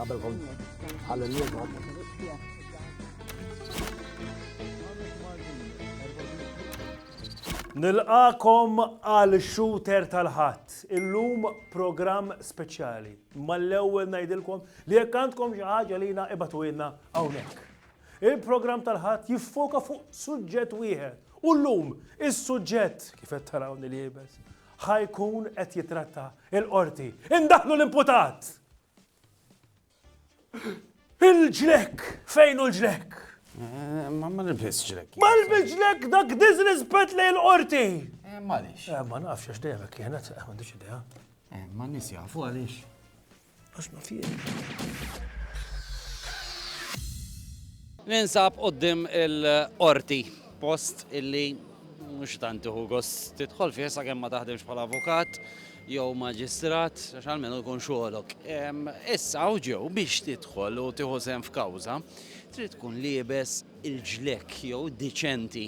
Qabel kon ħalli Nilqakom għal shooter tal-ħadd. Illum programm speċjali. Mal-ewwel ngħidilkom li jekk għandkom xi ħaġa lina ibatu ilna hawnhekk. Il-programm tal-Ħadd jiffoka fuq suġġett wieħed u llum is-suġġett, kif qed tarawni liebes, ħa jkun qed jitratta il-qorti. Indaħlu l-imputat! Il-ġlek! Fejn hu l-ġlek? Eh, ma ma nilbis ġlek. Ma nilbis ġlek dak disrispet li l-qorti. Eh, ma nix. Eh, ma nafx għax dejjem kienet, ma nix idea. Ma nis jafu għalix. Ninsab qoddim il-qorti, post illi mhux tant iħu gost tidħol fih sakemm ma taħdimx bħala avukat jew maġistrat, għax almenu jkun xogħolok. Issa hawn ġew biex tidħol u tieħu sehem f'kawża, trid tkun liebes il-ġlekk jew diċenti.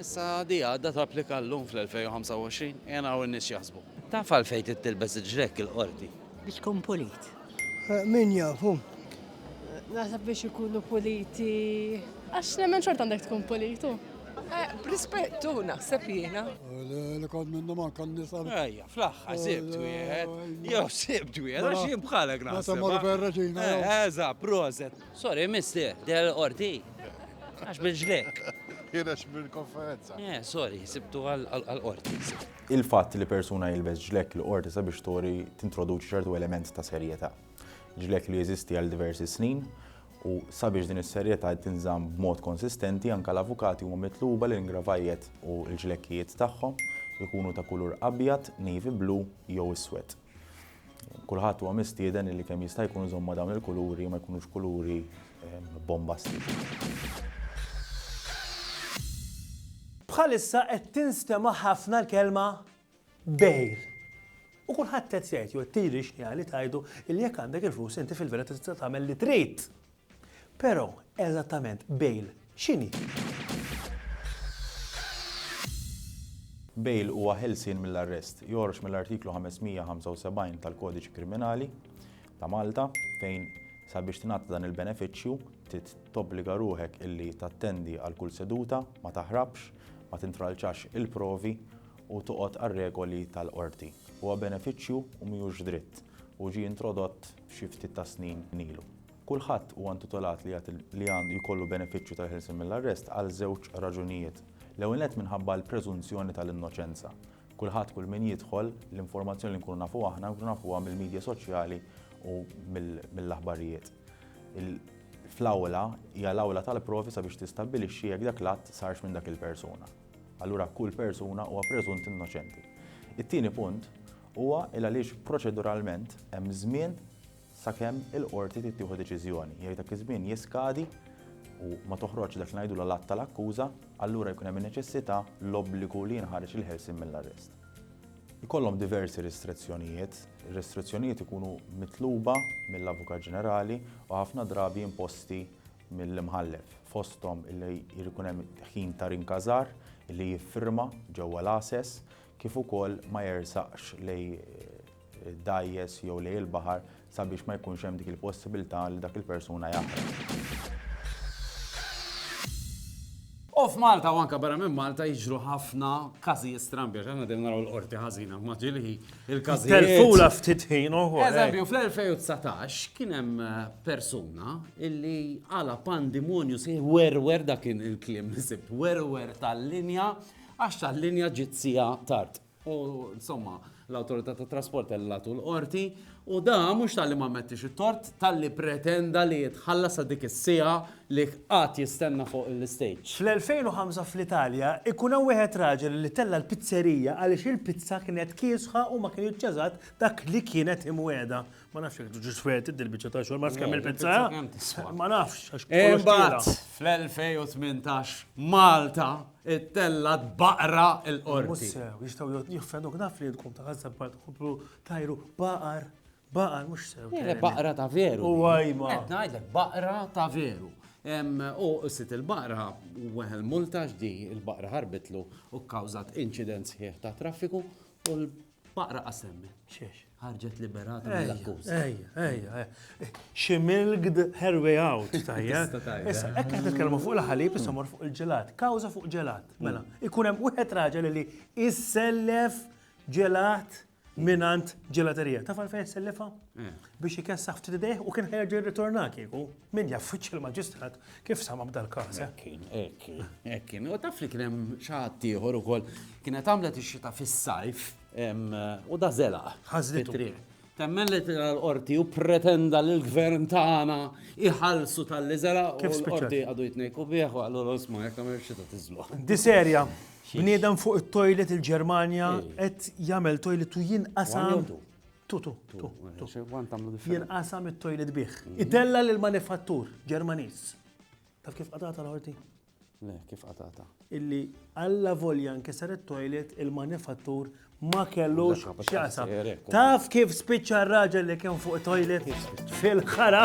Issa di għadda tapplika llum fl-2025? Qiegħ naraw in-nies x'jaħsbu. Taf għalfejn trid tilbes il-ġrekk il-Qorti? Biex tkun pulit. Min jaf, hu. Naħseb biex ikunu puliti. Għax nemmen xorta għandek tkun pulit, hu. B'rispett, hu, naħseb jiena. Li kont minnhom anke n-nisa. Ejja, fl-aħħar sibt wieħed. Jew sibt wieħed, għax jien bħalek naħseb. Meta mmorru fejn ir-Reġina. Eżatt, proset. Sorry, mister, der l-qorti. Għax bil-ġlek. Jirex bil-konferenza. Eh, sorry, sibtu għal-qorti. Il-fatt li persuna jilbes ġlek l-qorti sabiex tori tintroduċi ċertu element ta' serjetà. Ġlek li jeżisti għal diversi snin u sabiex din is-serjetà tinżamm b'mod konsistenti anke l-avukati huma mitluba li l-ingravajiet u l-ġlekkijiet tagħhom ikunu ta' kulur abjad, navy blue jew iswed. Kulħadd huwa mistieden illi kemm jista' jkun iżomm ma' dawn il-kuluri ma jkunux kuluri bombastiċi. Bħalissa qed tinstema' ħafna l-kelma bail. U kulħadd qed jgħid jew qed tgħid li tgħidu li jekk għandek il-flus inti fil-verità tista' tagħmel li trid. Pero, eżattament, bail x'inhi? Bail huwa ħelsien mill-arrest, joħroġ mill-Artiklu 575 tal-Kodiċi Kriminali ta' Malta, fejn sabiex tingħata dan il-benefiċċju trid tobbliga ruħek illi tattendi għal kull seduta, ma taħrabx, ma tintralċax il-provi u toqgħod għar-regoli tal-qorti. Huwa benefiċċju u mhijiex dritt u ġie introdott xi ftit tas-snin ilu. Kulħadd huwa intitolat li jagħti li għandu jkollu benefiċċju tal-ħelsien mill-arrest għal żewġ raġunijiet. L-ewwel nett minħabba l-preżunzjoni tal-innoċenza. Kulħadd kull min jidħol, l-informazzjoni li nkunu nafu aħna nkunu nafuha mill-midja soċjali u mill-aħbarijiet. Fl-awla hija l-awla tal-provi sabiex tistabbilixxi jekk dak l-att sarx minn dak il-persuna. Allura kull persuna huwa preżunt innoċenti. It-tieni punt huwa il għaliex proċeduralment hemm żmien sakemm il-qorti trid tieħu deċiżjoni, jekk dak iż-żmien jiskadi u ma toħroġx dak li ngħidulu l-att tal-akkuża, allura jkun hemm in-neċessità, l-obbligu li jinħareġ il-ħelsien mill-arrest. Ikollhom diversi ristrezzjonijiet. Ir-ristrezzjonijiet ikunu mitluba mill-Avukat Ġenerali u ħafna drabi imposti mill-imħallef, fosthom li jrid ikun hemm ħin ta' rinkażar, li jiffirma ġewwa l-għases, kif ukoll ma jersaqx lejn dgħajjes jew lejn il-baħar sabiex ma jkunx hemm dik il-possibilità li dak il-persuna jaħraq. U f'Malta u anka barra minn Malta jiġru ħafna każijiet strambi, għax aħna din naraw l-qorti ħażina ma ġilħi il-każijiet. Telfula ftit ħin uħu. Eh. Eżempju, fl-2019 kien hemm eh, persuna illi għala pandimonju si werwer dak il-klim li sibt, werwer tal-linja Għax tal-linja ġiet siegħa tard. U insomma, l-Awtorità tat-Trasport tellgħatu l-Qorti u da mhux talli ma mmettix it-tort, talli pretenda li jitħallas għal dik is-siegħa li qagħad jistenna fuq l-istejġ. Fl-2005 fl-Italja, ikun hawn wieħed raġel li tella' l-pizzerija għaliex il-pizza kienet kiesħa u ma kien iċċażat dak li kienet imwiegħda. Ma nafx jek ġuġ feti dil-bicċa ta' xogħol, ma nafx kemm il-pizza. Ma nafx. Imbagħad fl-2018 Malta it-tella baqra il-qorti. Jistgħu jiffenduk naf li tkun ta' ħaża bħal tħobru tajru baqar. Baqar mhux sew. Baqra ta' veru. U għajma. Qed ngħidlek baqra ta' veru. U sit il-baqra u weħel multa ġdi il-baqra ħarbitlu u kkawżat inċident sħiħ ta' traffiku u l Faqra qasemmi. Xiex. Ħarġet liberata mill-akkuż. Ejja, ejja, ejja. She milked her way out, tajja. Issa, ekk qed nitkellmu fuq il-ħalib, issa mor fuq il-ġelat. Kawża fuq ġelat. Mm. Mela, ikun hemm wieħed raġel li issellef ġelat minant ġelaterija. Taf għalfejn issellifha? Eh. Biex ikessaħ ftit idejh u kien ħerġ jirritorna kieku. Min jaf wiċċ il-Maġistrat kif samam dal-każ? Eh? Ekkin, ekkin, ekkin. U taf li kien hemm xaħat ieħor ukoll kienet għamlet ix-xita fis-sajf u da zela. Ħażlitu. Temmen li tira l-qorti u pretenda li l-gvern tagħna iħallsu tal-li zela u l-qorti għadu jitnejku bieħu għallu l-osma jekk għamil xita tiżlu. Di serja, bniedem fuq it-toilet il-Ġermanja qed jagħmel toilet u jinqasam. Tu, tu, tu. Jinqasam it-toilet bih. Mm. Itella lil manifattur Ġermaniż. Taf kif qatata l-ħorti? Le, kif qatata? Illi alla volja nkisar it-toilet il-manifattur ma kellux xasa. Taf kif spiċċa r-raġel li kien fuq toilet fil-ħara?